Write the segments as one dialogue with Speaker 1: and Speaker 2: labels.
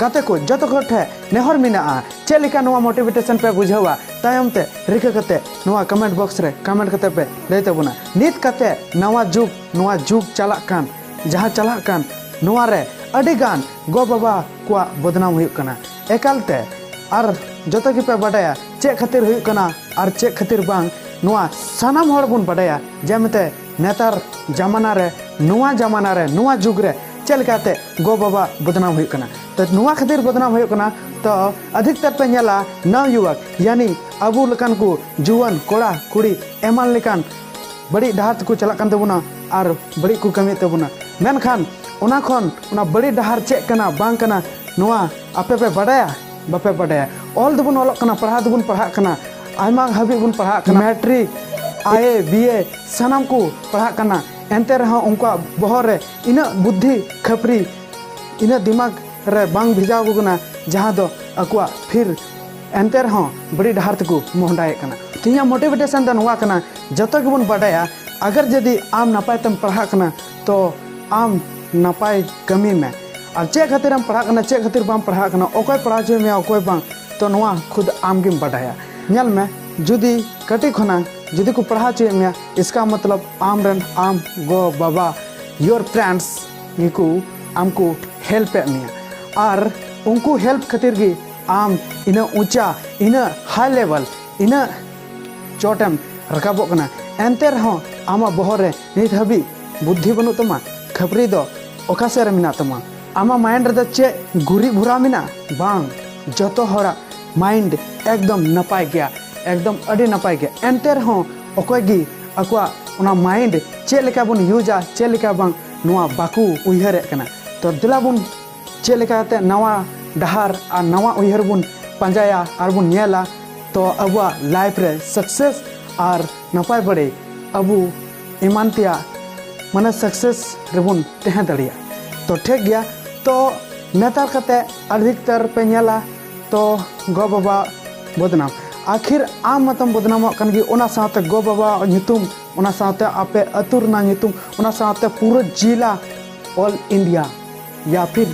Speaker 1: ᱜᱟᱛᱮ ᱠᱚ ᱡᱚᱛᱚ ᱠᱚ ᱴᱷᱮ ᱱᱮᱦᱚᱨ ᱢᱮᱱᱟᱜᱼᱟ ᱪᱮᱫ ᱞᱮᱠᱟ ᱱᱚᱣᱟ ᱢᱳᱴᱤᱵᱷᱮᱴᱮᱥᱚᱱ ᱯᱮ ᱵᱩᱡᱷᱟᱹᱣᱟ ᱛᱟᱭᱚᱢ ᱛᱮ ᱨᱤᱠᱟᱹ ᱠᱟᱛᱮ ᱱᱚᱣᱟ ᱠᱚᱢᱮᱱᱴ ᱵᱚᱠᱥ ᱨᱮ ᱠᱚᱢᱮᱱᱴ ᱠᱟᱛᱮ ᱯᱮ ᱞᱟᱹᱭ ᱛᱟᱵᱚᱱᱟ ᱱᱤᱛ ᱠᱟᱛᱮ ᱱᱟᱣᱟ ᱡᱩᱜᱽ ᱱᱚᱣᱟ ᱡᱩᱜᱽ ᱪᱟᱞᱟᱜ ᱠᱟᱱ ᱡᱟᱦᱟᱸ ᱪᱟᱞᱟᱜ ᱠᱟᱱ ᱱᱚᱣᱟ ᱨᱮ ᱟᱹᱰᱤ ᱜᱟᱱ ᱜᱚ ᱵᱟᱵᱟ ᱠᱚᱣᱟᱜ ᱵᱚᱫᱱᱟᱢ ᱦᱩᱭᱩᱜ ᱠᱟᱱᱟ ᱮᱠᱟᱞ ᱛᱮ ᱟᱨ ᱡᱚᱛᱚ ᱜᱮᱯᱮ ᱵᱟᱰᱟᱭᱟ ᱪᱮᱫ ᱠᱷᱟᱹᱛᱤᱨ ᱦᱩᱭᱩᱜ ᱠᱟᱱᱟ ᱟᱨ ᱪᱮᱫ ᱠᱷᱟᱹᱛᱤᱨ ᱵᱟᱝ ᱱᱚᱣᱟ ᱥᱟᱱᱟᱢ ᱦᱚᱲ ᱵᱚᱱ ᱵᱟᱰᱟᱭᱟ ᱡᱮᱢᱛᱮ ᱱᱮᱛᱟᱨ ᱡᱟᱢᱟᱱᱟ ᱨᱮ ᱱᱚᱣᱟ ᱡᱟᱢᱟᱱᱟ ᱨᱮ ᱱᱚᱣᱟ ᱡᱩᱜᱽ ᱨᱮ ᱪᱮᱫ ᱞᱮᱠᱟᱛᱮ ᱜᱚ ᱵᱟᱵᱟ ᱵᱚᱫᱱᱟᱢ ᱦᱩᱭᱩᱜ ᱠᱟᱱᱟ ᱛᱚ ᱱᱚᱣᱟ ᱠᱷᱟᱹᱛᱤᱨ ᱵᱚᱫᱱᱟᱢ ᱦᱩᱭᱩᱜ ᱠᱟᱱᱟ ᱛᱚ ᱟᱫᱷᱤᱠᱛᱟᱨ ᱯᱮ ᱧᱮᱞᱟ ᱱᱟᱣ ᱭᱩᱣᱟᱠ ᱭᱟᱱᱤ ᱟᱵᱚ ᱞᱮᱠᱟᱱ ᱠᱚ ᱡᱩᱣᱟᱹᱱ ᱠᱚᱲᱟ ᱠᱩᱲᱤ ᱮᱢᱟᱱ ᱞᱮᱠᱟᱱ ᱵᱟᱹᱲᱤᱡ ᱰᱟᱦᱟᱨ ᱛᱮᱠᱚ ᱪᱟᱞᱟᱜ ᱠᱟᱱ ᱛᱟᱵᱚᱱᱟ ᱟᱨ ᱵᱟᱹᱲᱤᱡ ᱠᱚ ᱠᱟᱹᱢᱤᱭᱮᱫ ᱛᱟᱵᱚᱱᱟ ᱢᱮᱱᱠᱷᱟᱱ ᱚᱱᱟ ᱠᱷᱚᱱ ᱚᱱᱟ ᱵᱟᱹᱲᱤᱡ ᱰᱟᱦᱟᱨ ᱪᱮᱫ ᱠᱟᱱᱟ ᱵᱟᱝ ᱠᱟᱱᱟ ᱱᱚᱣᱟ ᱟᱯᱮ ᱯᱮ ᱵᱟᱰᱟᱭᱟ ᱵᱟᱯᱮ ᱵᱟᱰᱟᱭᱟ ᱚᱞ ᱫᱚᱵᱚᱱ ᱚᱞᱚᱜ ᱠᱟᱱᱟ ᱯᱟᱲᱦᱟᱣ ᱫᱚᱵᱚᱱ ᱯᱟᱲᱦᱟᱜ ᱠᱟᱱᱟ ᱟᱭᱢᱟ ᱦᱟᱹᱵᱤᱡ ᱵᱚᱱ ᱯᱟᱲᱦᱟᱜ ᱠᱟᱱᱟ ᱢᱮᱴᱨᱤᱠ ᱟᱭᱮ ᱵᱤᱭᱮ ᱥᱟᱱᱟᱢ ᱠᱚ ᱯᱟᱲᱦᱟᱜ ᱠᱟᱱᱟ ᱮᱱᱛᱮ ᱨᱮᱦᱚᱸ ᱩᱱᱠᱩᱣᱟᱜ ᱵᱚᱦᱚᱜ ᱨᱮ ᱤᱱᱟᱹᱜ ᱵᱩᱫᱽᱫᱷᱤ ᱠᱷᱟᱹᱯᱨᱤ ᱤᱱᱟᱹᱜ ᱫᱤᱢᱟᱜᱽ ᱨᱮ ᱵᱟᱝ ᱵᱷᱮᱡᱟᱣ ᱟᱠᱚ ᱠᱟᱱᱟ ᱡᱟᱦᱟᱸ ᱫᱚ ᱟᱠᱚᱣᱟᱜ ᱯᱷᱤᱨ ᱮᱱᱛᱮ ᱨᱮᱦᱚᱸ ᱵᱟᱹᱲᱤᱡ ᱰᱟᱦᱟᱨ ᱛᱮᱠᱚ ᱢᱚᱦᱰᱟᱭᱮᱫ ᱠᱟᱱᱟ ᱛᱮᱦᱮᱧᱟᱜ ᱢᱳᱴᱤᱵᱷᱮᱴᱮᱥᱚᱱ ᱫᱚ ᱱᱚᱣᱟ ᱠᱟᱱᱟ ᱡᱚᱛᱚ ᱜᱮᱵᱚᱱ ᱵᱟᱰᱟᱭᱟ ᱟᱜᱟᱨ ᱡᱩᱫᱤ ᱟᱢ ᱱᱟᱯᱟᱭ ᱛᱮᱢ ᱯᱟᱲᱦᱟᱜ ᱠᱟᱱᱟ ᱛᱚ ᱟᱢ ᱱᱟᱯᱟᱭ ᱠᱟᱹᱢᱤ ᱢᱮ ᱟᱨ ᱪᱮᱫ ᱠᱷᱟᱹᱛᱤᱨ ᱮᱢ ᱯᱟᱲᱦᱟᱜ ᱠᱟᱱᱟ ᱪᱮᱫ ᱠᱷᱟᱹᱛᱤᱨ ᱵᱟᱢ ᱯᱟᱲᱦᱟᱜ ᱠᱟᱱᱟ ᱚᱠᱚᱭ ᱯᱟᱲᱦᱟᱣ ᱦᱚᱪᱚᱭ ᱢᱮᱭᱟ ᱚᱠᱚᱭ ᱵᱟᱝ ᱛᱚ ᱱᱚᱣᱟ ᱠᱷᱩᱫ ᱟᱢ ᱜᱮᱢ ᱵᱟᱰᱟᱭᱟ ᱧᱮᱞ ᱢᱮ ᱡᱩᱫᱤ ᱠᱟᱹᱴᱤᱡ ᱠᱷᱚᱱᱟᱜ ᱡᱩᱫᱤ ᱠᱚ ᱯᱟᱲᱦᱟᱣ ᱦᱚᱪᱚᱭᱮᱫ ᱢᱮᱭᱟ ᱤᱥᱠᱟ ᱢᱚᱛᱞᱚᱵ ᱟᱢ ᱨᱮᱱ ᱟᱢ ᱜᱚ ᱵᱟᱵᱟ ᱭᱳᱨ ᱯᱨᱮᱱᱴᱥ ᱜᱮᱠᱚ ᱟᱢᱠᱚ ᱦᱮᱞᱯ ᱮᱫ ᱢᱮᱭᱟ ᱟᱨ ᱩᱱᱠᱩ ᱦᱮᱞᱯ ᱠᱷᱟᱹᱛᱤᱨ ᱜᱮ ᱟᱢ ᱤᱱᱟᱹ ᱩᱪᱟ ᱤᱱᱟᱹ ᱦᱟᱭ ᱞᱮᱵᱮᱞ ᱤᱱᱟᱹ ᱪᱚᱴᱮᱢ ᱨᱟᱠᱟᱵᱚᱜ ᱠᱟᱱᱟ ᱮᱱᱛᱮ ᱨᱮᱦᱚᱸ ᱟᱢᱟᱜ ᱵᱚᱦᱚᱜ ᱨᱮ ᱱᱤᱛ ᱦᱟᱹᱵᱤᱡ ᱵᱩᱫᱽᱫᱷᱤ ᱵᱟᱹᱱᱩᱜ ᱛᱟᱢᱟ ᱠᱷᱟᱹᱯᱨᱤ ᱫᱚ ᱚᱠᱟ ᱥᱮᱫ ᱨᱮ ᱢᱮᱱᱟᱜ ᱛᱟᱢᱟ ᱟᱢᱟᱜ ᱢᱟᱭᱤᱱᱰ ᱨᱮᱫᱚ ᱪᱮᱫ ᱜᱩᱨᱤ ᱵᱷᱚᱨᱟᱣ ᱢᱮᱱᱟᱜᱼᱟ ᱵᱟᱝ ᱡᱚᱛᱚ ᱦᱚᱲᱟᱜ ᱢᱟᱭᱤᱱᱰ ᱮᱠᱫᱚᱢ ᱱᱟᱯᱟᱭ ᱜᱮᱭᱟ ᱮᱠᱫᱚᱢ ᱟᱹᱰᱤ ᱱᱟᱯᱟᱭ ᱜᱮᱭᱟ ᱮᱱᱛᱮ ᱨᱮᱦᱚᱸ ᱚᱠᱚᱭ ᱜᱮ ᱟᱠᱚᱣᱟᱜ ᱚᱱᱟ ᱢᱟᱭᱤᱱᱰ ᱪᱮᱫ ᱞᱮᱠᱟ ᱵᱚᱱ ᱤᱭᱩᱡᱟ ᱪᱮᱫ ᱞᱮᱠᱟ ᱵᱟᱝ ᱱᱚᱣᱟ ᱵᱟᱠᱚ ᱩᱭᱦᱟᱹᱨᱮᱫ ᱠᱟᱱᱟ ᱛᱚ ᱫᱮᱞᱟ ᱵᱚᱱ ᱪᱮᱫ ᱞᱮᱠᱟᱛᱮ ᱱᱟᱣᱟ ᱰᱟᱦᱟᱨ ᱟᱨ ᱱᱟᱣᱟ ᱩᱭᱦᱟᱹᱨ ᱵᱚᱱ ᱯᱟᱸᱡᱟᱭᱟ ᱟᱨ ᱵᱚᱱ ᱧᱮᱞᱟ ᱛᱚ ᱟᱵᱚᱣᱟᱜ ᱞᱟᱭᱤᱯᱷ ᱨᱮ ᱥᱟᱠᱥᱮᱥ ᱟᱨ ᱱᱟᱯᱟᱭ ᱵᱟᱹᱲᱮ ᱟᱵᱚ ᱮᱢᱟᱱ ᱛᱮᱭᱟᱜ ᱢᱟᱱᱮ ᱥᱟᱠᱥᱮᱥ ᱨᱮᱵᱚᱱ ᱛᱟᱦᱮᱸ ᱫᱟᱲᱮᱭᱟᱜᱼᱟ ᱛᱚ ᱴᱷᱤᱠ ᱜᱮᱭᱟ ᱛᱚ ᱱᱮᱛᱟᱨ ᱠᱟᱛᱮ ᱟᱹᱰᱤ ᱩᱛᱟᱹᱨ ᱯᱮ ᱧᱮᱞᱟ ᱛᱚ ᱜᱚ ᱵᱟᱵᱟ ᱵᱚᱫᱱᱟᱢ ᱟᱠᱷᱤᱨ ᱟᱢ ᱢᱟᱛᱚᱢ ᱵᱚᱫᱱᱟᱢᱚᱜ ᱠᱟᱱ ᱜᱮ ᱚᱱᱟ ᱥᱟᱶᱛᱮ ᱜᱚ ᱵᱟᱵᱟ ᱧᱩᱛᱩᱢ ᱚᱱᱟ ᱥᱟᱶᱛᱮ ᱟᱯᱮ ᱟᱹᱛᱩ ᱨᱮᱱᱟᱜ ᱧᱩᱛᱩᱢ ᱚᱱᱟ ᱥᱟᱶᱛᱮ ᱯᱩᱨᱟᱹ ᱡᱤᱞᱟ ᱚᱞ ᱤᱱᱰᱤᱭᱟ ᱭᱟ ᱯᱷᱤᱨ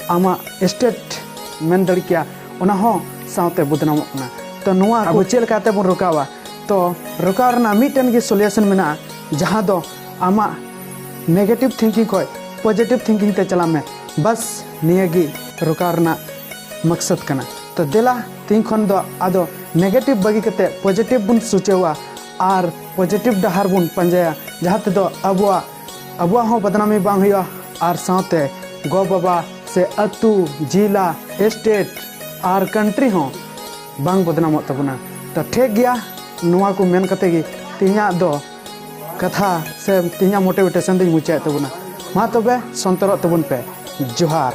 Speaker 1: ᱟᱢᱟᱜ ᱥᱴᱮᱴ ᱢᱮᱱ ᱫᱟᱲᱮ ᱠᱮᱭᱟ ᱚᱱᱟ ᱦᱚᱸ ᱥᱟᱶᱛᱮ ᱵᱚᱫᱱᱟᱢᱚᱜ ᱠᱟᱱᱟ ᱛᱚ ᱱᱚᱣᱟ ᱟᱵᱚ ᱪᱮᱫ ᱞᱮᱠᱟᱛᱮ ᱵᱚᱱ ᱨᱚᱠᱟᱣᱟ ᱛᱚ ᱨᱚᱠᱟᱣ ᱨᱮᱱᱟᱜ ᱢᱤᱫᱴᱮᱱ ᱜᱮ ᱥᱚᱞᱩᱭᱮᱥᱚᱱ ᱢᱮᱱᱟᱜᱼᱟ ᱡᱟᱦᱟᱸ ᱫᱚ ᱟᱢᱟᱜ ᱱᱮᱜᱮᱴᱤᱵᱷ ᱛᱷᱤᱝᱠᱤᱝ ᱠᱷᱚᱱ ᱯᱚᱡᱮᱴᱤᱵᱷ ᱛᱷᱤᱝᱠᱤᱝ ᱛᱮ ᱪᱟᱞᱟᱜ ᱢᱮ ᱵᱟᱥ ᱱᱤᱭᱟᱹ ᱜᱮ ᱨᱚᱠᱟᱣ ᱨᱮᱱᱟᱜ ᱢᱚᱠᱥᱚᱫ ᱠᱟᱱᱟ ᱛᱚ ᱫᱮᱞᱟ ᱛᱤᱦᱤᱧ ᱠᱷᱚᱱ ᱫᱚ ᱟᱫᱚ ᱱᱮᱜᱮᱴᱤᱵᱷ ᱵᱟᱹᱜᱤ ᱠᱟᱛᱮ ᱯᱚᱡᱮᱴᱤᱵᱷ ᱵᱚᱱ ᱥᱩᱪᱟᱹᱣᱟ ᱟᱨ ᱯᱚᱡᱮᱴᱤᱵᱷ ᱰᱟᱦᱟᱨ ᱵᱚᱱ ᱯᱟᱸᱡᱟᱭᱟ ᱡᱟᱦᱟᱸ ᱛᱮᱫᱚ ᱟᱵᱚᱣᱟᱜ ᱟᱵᱚᱣᱟᱜ ᱦᱚᱸ ᱵᱚᱫᱱᱟᱢᱤ ᱵᱟᱝ ᱦᱩᱭᱩᱜᱼᱟ ᱟᱨ ᱥᱟᱶᱛᱮ ᱜᱚ ᱵᱟᱵᱟ ᱥᱮ ᱟᱹᱛᱩ ᱡᱤᱞᱟ ᱥᱴᱮᱴ ᱟᱨ ᱠᱟᱱᱴᱨᱤ ᱦᱚᱸ ᱵᱟᱝ ᱵᱚᱫᱱᱟᱢᱚᱜ ᱛᱟᱵᱚᱱᱟ ᱛᱚ ᱴᱷᱤᱠ ᱜᱮᱭᱟ ᱱᱚᱣᱟ ᱠᱚ ᱢᱮᱱ ᱠᱟᱛᱮ ᱜᱮ ᱛᱤᱦᱤᱧᱟᱜ ᱫᱚ ᱠᱟᱛᱷᱟ ᱥᱮ ᱛᱮᱦᱮᱧᱟᱜ ᱢᱳᱴᱤᱵᱷᱮᱴᱮᱥᱚᱱ ᱫᱚᱧ ᱢᱩᱪᱟᱹᱫ ᱮᱫ ᱛᱟᱵᱚᱱᱟ ᱢᱟ ᱛᱚᱵᱮ ᱥᱚᱱᱛᱚᱨᱚᱜ ᱛᱟᱵᱚᱱ ᱯᱮ ᱡᱚᱦᱟᱨ